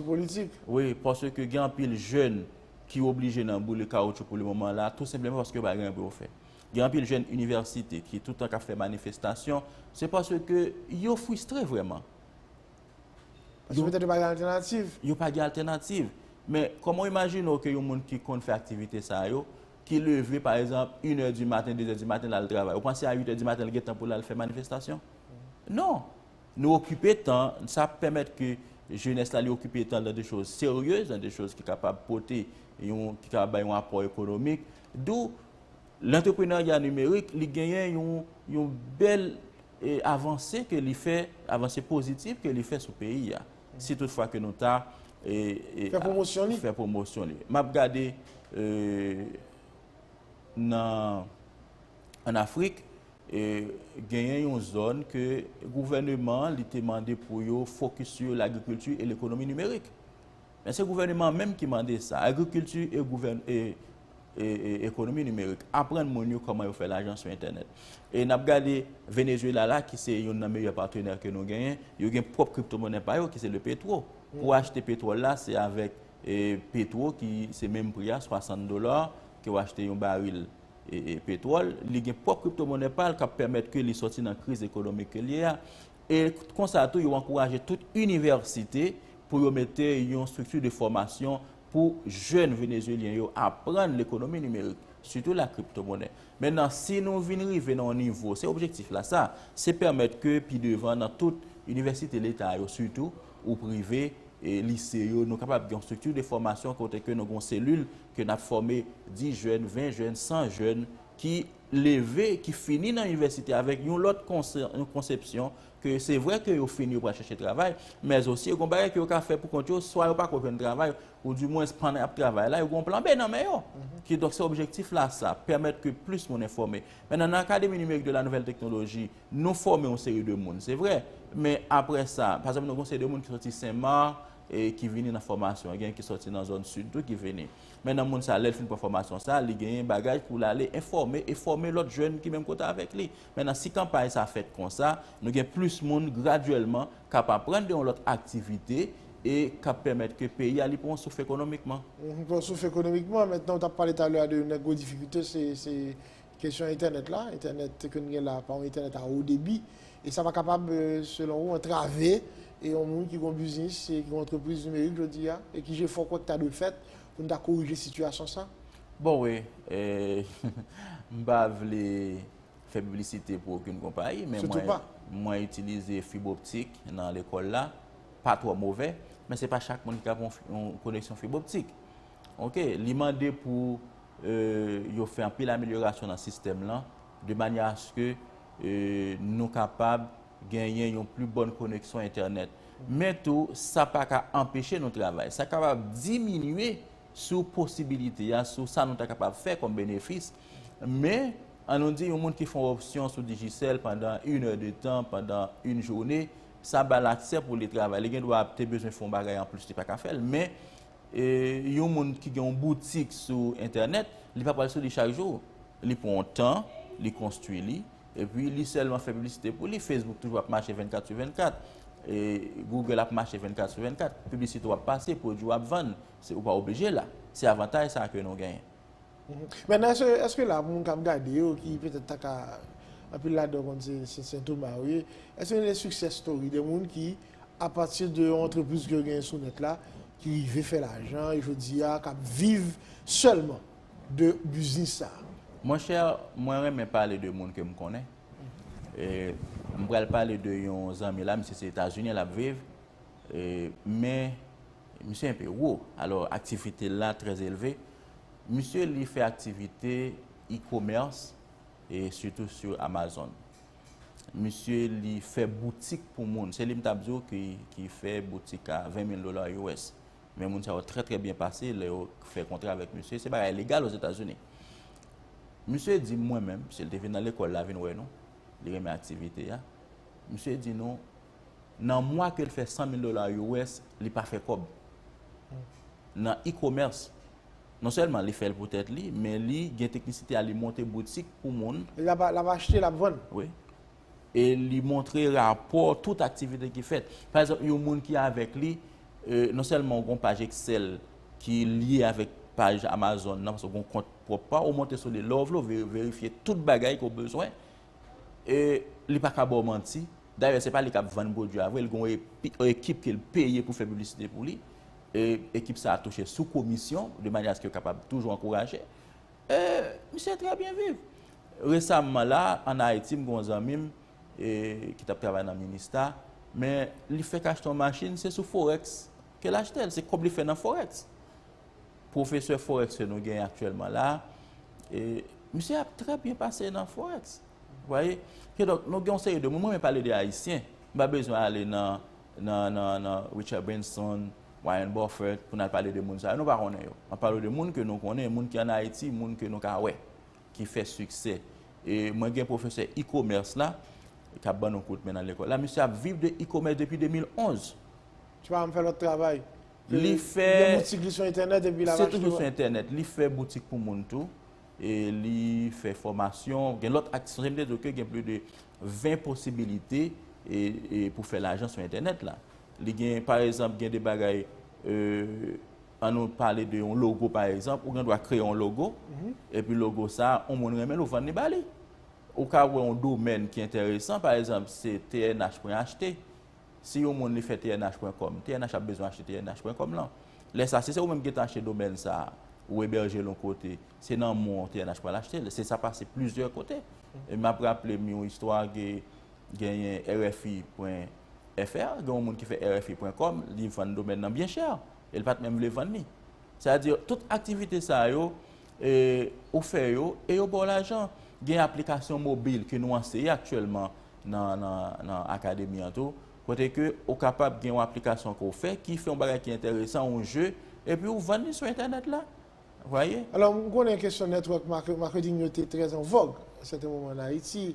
wi, paske gen anpil jèn ki oblije nan boule kawoutchou pou le moman la, tou senpleman paske yo pa gen anyen pou yo fè. Gen anpil jèn inivèsite ki toutan k ap fè manifestasyon, se paske yo fristre vrèman. Paske petèt yo pa gen altènativ. Yo pa gen altènativ. Men, kòman w imajine w ke yon moun ki konn fè aktivite sa yo, ki leve, pa egzanp, inè di maten, dezè di maten, l al travay. Ou panse a uitè di maten l gen tan pou l al fè manifestasyon? Non! Nou okipe tan, sa pèmèt ke jenès la li okipe tan nan de choz seryez, nan de choz ki kapab pote yon, ki kapab bay yon apò ekonomik. Dou, Lantreprenarya nimerik li genyen yon bèl avanse ke li fè, avanse pozitif ke li fè sou peyi a. Si tout fwa ke nou ta fè pwomosyon li. M ap gade nan an Afrik genyen yon zòn ke gouvèneman li te mande pou yo fokis sou lagrikilti e lekonomi nimerik. Men se gouvèneman an menm ki mande sa. Agrikilti e ekonomi nimerik aprann moun yo kòman yo fè lajan sou entènèt. E n ap gade Venezuela la ki se youn nan meyè patenè ke nou genyen, yo gen pwòp kriptomonnen pa yo ki se le petwo. Pou achte petwòl la se avèk petwo ki se menm pri a 60 dola ke w achte yon baril petwòl. Li gen pwòp kriptomonnen pa l k ap pèmèt ke li sòti nan kriz ekonomik ke l ye a. e konsa tou yo ankouraje tout inivèsite pou yo mete yon estrikti de fòmasyon pou jèn venezuelyen yo aprann lekonomi nimerik, sitou la kriptomonnen. Mennan si nou vin rive nan yon nivo, se objektif la sa, se pèmèt ke pi devan nan tout inivèsite leta yo sitou ou prive, lise yo, nou kapab gen yon estrikti de fòmasyon kote ke nou gen yon selil ke n ap fòme 10 jèn, 20 jèn, 100 jèn ki leve ki fini nan inivèsite avèk yon lòt konsepsyon ke se vre ke yo fini yo pral chèche travay, mèz osi yo gen yon bagay ke yo ka fè pou kont yo, swa yo pa ko jwenn travay, ou di mwens pandan y ap travay la yo gen yon plan B nan men yo. Ki donk se objektif la sa, pèmèt ke plis moun enfòme. Mennan nan Akademi Nimerik de la Nouvèl Teknoloji, nou fòme yon seri de moun, se vre, men apre sa, pa egzanp nou gen yon seri de moun ki soti Sen Mak, ki vini nan fòmasyon, gen ki soti nan zòn Sid tou ki vini. Men nan moun sa lè l fin pran fòmasyon sa, li genyen bagaj pou l ale enfòme e fòme lòt jèn ki menm kote avèk li. Mennan si kanpay sa fèt konsa, nou gen plis moun gradyèlman k ap aprann gen yon lòt aktivite e k ap pèmèt ke peyi a li pran yon souf ekonomikman. Pran yon souf ekonomikman. Mentnan ou t ap pale talè a de yon nan gwo difikilte se Kesyon entènèt la, entènèt ke n gen la pa yon entènèt a wo debi, e sa pa kapab selon ou antrave yon moun ki gon biznis, ki gon antrepriz nimerik jodi a, e ki jefò kwè ki ta dwe fèt pou n ta korije sitiyasyon sa? Bon wi, m pa vle fè piblisite pou okenn konpayi, men mwen itilize fiboptik nan lekòl la, pa twò movè, men se pa chak moun ki ka gen yon koneksyon fiboptik. Ok, li mande pou yo fè anpil amelyorasyon nan sistèm lan, de manyè aske nou kapab genyen yon pli bòn koneksyon entènèt. Men tou, sa pa ka anpeche nou travay. Sa kapab diminye sou posibilite a, sou sa nou ta kapab fè kòm benefis. Men, an nou di yon moun ki fè yon opsyon sou Digicel pandan in è de tan, pandan in joune, sa ba l aksè pou li travay. Li gen dwa ap te bezwen fè yon bagay anplis li pa ka fè l. Men. yon moun ki gen yon boutik sou entènèt, li pa pral sou li chak jou. Li pran yon tan, li konstwi li, epi li sèlman fè piblisite pou li. Facebook toujou ap mache 24 sou 24, Google ap mache 24 sou 24, piblisite ou ap pase, pwodui ou ap vann, ou pa oblije la. Se avantaj sa ke nou genyen. Mèt nan eske la pou moun kap gade yo ki petèt ta ka anpil ladan yo konn se sentoma yo ye, eske gen de success story de moun ki a pati de yon antrepriz ke yo genyen sou nèt la ki rive fè lajan e jodi a kap viv sèlman de biznis sa? Mon chè mwen renmen pale de moun ke m konnen e m pral pale de yon zanmi la misye se etazini lap viv e men Misye enpe wo, alò aktivite l la trè elve. Misye li fè aktivite e-commerce e sitou sou Amazon. Misye li fè boutik pou moun. Se li m t ap di w ki fè boutik a 20 mil dola US. Men moun sa yo trè trè byen pase lè yo fè kontra avèk misye. Se bagay legal Ozetazini. Misye di m mwen menm, misye te vin nan lekòl la vin wè nou, li renmen aktivite a. Misye di nou. Nan mwa ke l fè 100 mil dola US, li pa fè kòb. Nan e-commerce, non sèlman li fè l pou tèt li, men li gen teknisite a li monte boutik pou moun. L ap achte, l ap vann. Wi. E li montre rapò tout aktivite ki fèt. Pa egzanp, yon moun ki avèk li, non sèlman ou gen yon paj Excel ki lye avèk paj Amazon nan, paske ou gen yon kont pwòp pa ou, ou monte sou li. Lè ou vle, ou verifye tout bagay ke ou bezwen, e li pa ka ba w manti, dayè se pa li k ap vann pwodui a vre, li gen yon ekip ke l peye pou fè piblisite pou li, e ekip sa a touche sou komisyon, de manyè aske yo kapab toujou ankouraje, e misye trè byen viv. Resamman la, an Ayiti, m gen yon zanmi m ki t ap travay nan Minista, men li fèk achte yon machin, se sou Forex ke l achte l, se kòb li fè nan Forex. Profesè Forex ke nou genyen aktyèlman la, misye ap trè byen pase nan Forex. Ou vwaye? Ke donk, nou gen yon seri de moun, mwen menm pale de Ayisyen, m pa bezwen ale nan Richard Branson, Warren Buffett, pou nan pale de moun sa yo, nou pa konnen yo. M ap pale de moun ke nou konnen, moun ki an Ayiti, moun ke nou ka wè, ki fè siksè. E mwen gen profesè e-commerce la, k ap ban nou kout men nan lekòl la, misye ap viv de e-commerce depi 2011. Ti pa m fè lòt travay. Li fè... Gen boutik li sou entènèt epi la vache tou? Li fè boutik pou moun tou. Li fè fòmasyon. Gen lòt ak... Sonje m te di w ke gen plis de 20 posibilite pou fè lajan sou entènèt la. Li gen, pa egzanp, gen de bagay, an nou pale de yon logo pa egzanp, ou gen dwa kreye yon logo, epi logo sa, yon moun renmen l, ou vann li ba li. Ou ka wè yon domèn ki enteresan, pa egzanp, se tnh.ht. Si yon moun li fè tnh pwen kòm, tnh ap bezwen achte tnh pwen kòm lan. Lè sa, si se ou menm ki gentan achte domèn sa a, ou ebèje l yon kote, se nan men w tnh pral achte l. Se sa pase plizyè kote. E m ap raple m yon istwa ke genyen RFI pwen FR, gen yon moun ki fè RFI pwen kòm, li vann domèn lan byen chè e l pa t menm vle vann li. Sa di, tout aktivite sa yo, ou fè yo e yo ba w lajan. Gen aplikasyon mobil ke nou anseye aktyèlman nan akademi an tou, kote ke ou kapab gen yon aplikasyon ke ou fè, ki fè yon bagay ki enteresan, yon je, epi ou vann li sou entènèt la. Vwaye? Alò, m konnen kesyon network marketing yo te trè an vòg a sèten moman an Ayiti,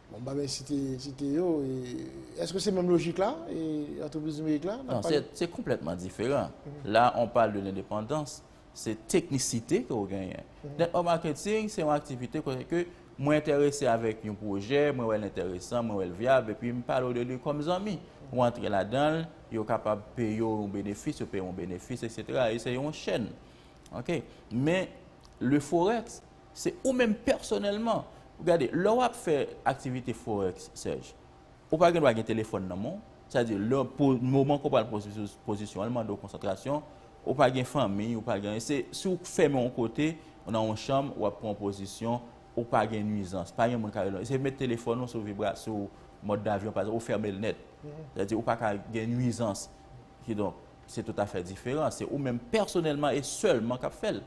bon m pa bèzwen site, site yo, e eske se menm lojik la, e antrepriz nimerik la? Non, se konplètman diferan. La, on parle de l'indépendance. se teknisite ke ou genyen. Network marketing se yon aktivite kote ke mwen enterese avèk yon pwojè, mwen wèl enteresan, mwen wèl vyab, epi m pale w de li kòm zanmi. Ou antre ladan l, yo kapab peye w yon benefis, yo peye w yon benefis, eksetera. E se yon chèn. Ok. Men, le forex, se ou menm pèsonèlman. Gade, lè w ap fè aktivite forex, Serge, Ou pa gen dwa gen telefòn nan men w. Sa di, lè pou moman ke w pral pran pozisyon an, li mande w konsantrasyon. Ou pa gen fanmi, ou pa gen anyen. Se si w fèmen yon kote, nan yon chanm, w ap pran pozisyon, ou pa gen nwizans. Pa gen moun ka rele w. Se met telefòn ou sou vibra, sou mòd davyon, pa ekzanp, ou fèmen l nèt. Sa di, ou pa ka gen nwizans. Kidonk, se toutafè diferan. Se ou menm pèsonèlman e sèlman k ap fè l.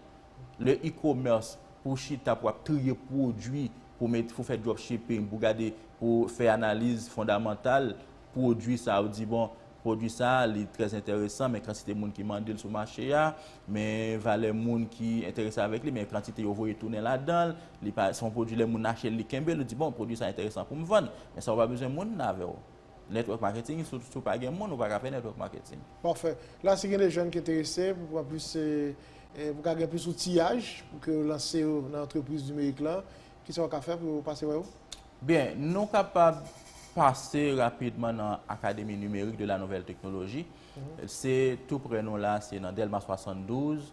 Le e-commerce pou chita pou ap triye pwodwi pou met pou fè drop shipping pou gade pou fè analiz fondamantal pwodwi sa ou di bon pwodwi sa li trè enteresan men kantite moun ki mande l sou mache a men valè moun ki enterese avèk li men kantite yo voye tounen ladan l li pa son pwodwi lè moun ache l li kenbe l ou di bon pwodwi sa enteresan pou m vann men sa ou pa bezwen moun nan avè w. Network marketing sou sou pa gen moun ou pa ka fè network marketing. Pafè. La si gen de jèn ki enterese pou pran plis se eh pou ka gen plis outillaj pou ke yo lanse yo nan antrepriz nimerik lan, ki sa yo ka fè pou yo pase wè ou? Byen, nou kapab pase rapidman nan Académie Numérique de la Nouvelle Technologie. Se tou prè nou la, se nan Delma 72,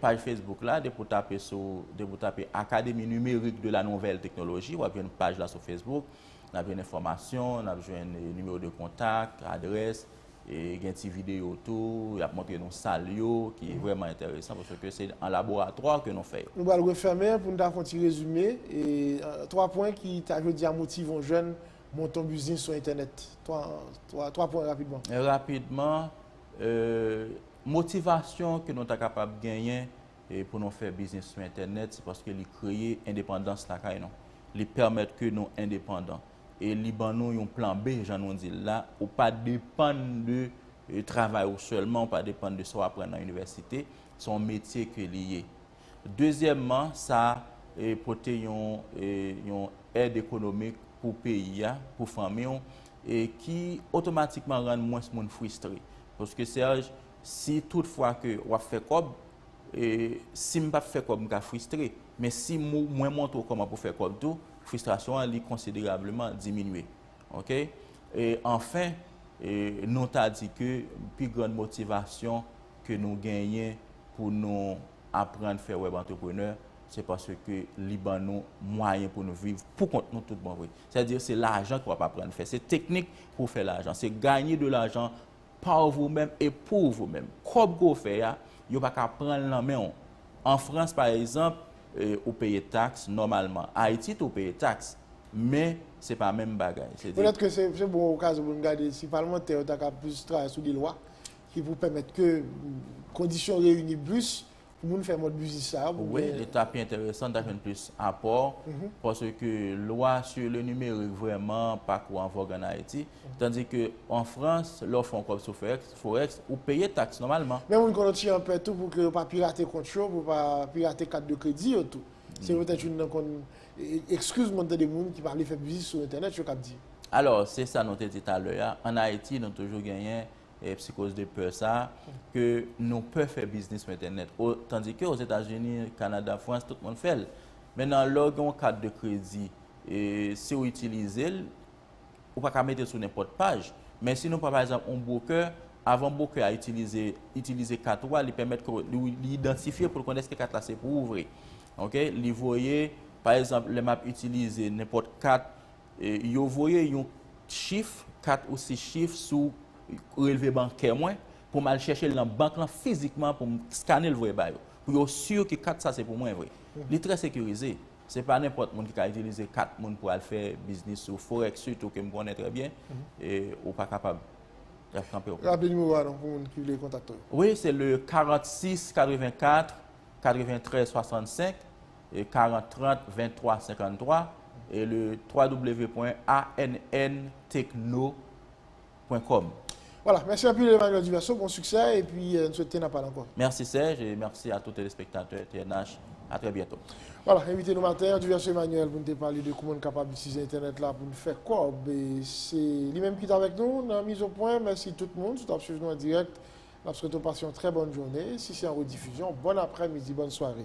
Paj Facebook la, depi ou tape sou, depi ou tape Académie Numérique de la Nouvelle Technologie, w ap jwenn paj la sou Facebook. N ap jwenn enfòmasyon, n ap jwenn nimewo de kontak, adrès, e gen ti videyo tou, y ap montre nou sal yo ki vrèman enteresan paske se an laboratwa ke nou fè yo. Nou pral refèmen pou nou ta fè yon ti rezime, e 3 pwen ki ta jodi a motive yon jèn monte yon biznis sou entènèt. 3 pwen rapidman. Rapidman, e. Motivasyon ke nou ta kapab genyen pou nou fè biznis sou entènèt, se paske li kreye endepandans lakay nou. Li pèmèt ke nou endepandan. E li ban nou yon plan B, jan nou di l la, ou pa depann de travay ou sèlman, ou pa depann de sa w aprann nan inivèsite, se yon metye ke li ye. Dezyèmman, sa pote yon èd ekonomik pou peyi a, pou fanmi w, ki otomatikman rann mwens moun fristre. Paske Serge, si tout fwa ke w ap fè kòb, si m pa p fè kòb m ka fristre, men si mwen montre w kòman pou fè kòb tou, fristrasyon an li konsiderableman diminye. Ok? E anfen, nou ta di ke pi grann motivasyon, ke nou genyen pou nou aprann fè wèb antreprenè, se paske li ban nou mwayen pou nou viv pou kont nou tout bon vre. Sa di se lajan ke wap aprann fè, se teknik pou fè lajan, se ganye de lajan par vous meme et pour vous meme. Kòb ke w fè a, yo pa ka pran l nan men w. An Frans pa egzanp, ou peye taks nòmalman. Ayiti tou ou peye taks, men se pa menm bagay. Petèt ke se bon okazyon pou nou gade si palmantè yo ta ka plis travay sou de lwa Ki pou pèmèt ke kondisyon reyini blis pou moun fè mòd biznis sa a. Wi, li ta pi enteresan, ta jwenn plis apò. Pase ke lwa sou le nimerik vreman pa kou an vòg an Ayiti. Tandi ke an Frans, lè w fè yon kòb sou Forex, ou peye taks nòmalman. Men moun konon ti an pè tou pou ke yo pa pirate kont yo, pou yo pa pirate kat de kredi yo tou. Se petèt youn nan kon ekskiz mwen tande moun ki pa vle fè biznis sou entènèt yo kap di. Alò, se sa nou te di talè a. An Ayiti, nou toujou genyen psikoz de pè sa, ke nou pè fè biznis sou entènèt. Tandike, o Zetazini, Kanada, Frans, tout moun fè l. Men nan lè w gen yon kat de kredi, e si w itilize l, ou pa ka mete l sou nenpòt paj. Men si nou pran pa egzanp yon bwokè, avan bwokè a itilize kat ou a, li pèmèt ke li idantifye pou l konnen eske kat la se pou ou vre. Ok? Li voye, pa egzanp, lè m ap itilize nenpòt kat, Yo voye yon chif, 4 ou 6 chif sou relve bankè mwen pou m al chèche l nan bank lan fizikman pou m skane l voye ba yo. Pou yo si ke kat sa se pou mwen vre. Li trè sekirize. Se pa nenpòt moun ki ka itilize kat moun pou al fè biznis sou forex sitou ke m konnen trè byen ou pa kapab. Y ap kanpe w. Raple nimewo a non pou moun ki vle kontakte w yo. Wi, se le 46 84 93 65. 40 30 23 53 e le www.anntechno pwen kòm. Wala, mèsi anpil Emmanuel Duverseau, bon siksè, epi n swete n ap pale ankò. Mèsi Serge, e mèsi a tout telespektatè TNH, a trè byento. Wala, envite nou maten an, Duverseau Emmanuel pou n te pale de kouman n kapab itilize entènèt la pou n fè kòb, e se li menm ki t avèk nou nan Mizopwen, mèsi tout moun, si w t ap swiv nou an dirèk, n ap swete w pase yon trè bòn joune, si se an redifizyon, bòn aprè midi, bòn sware.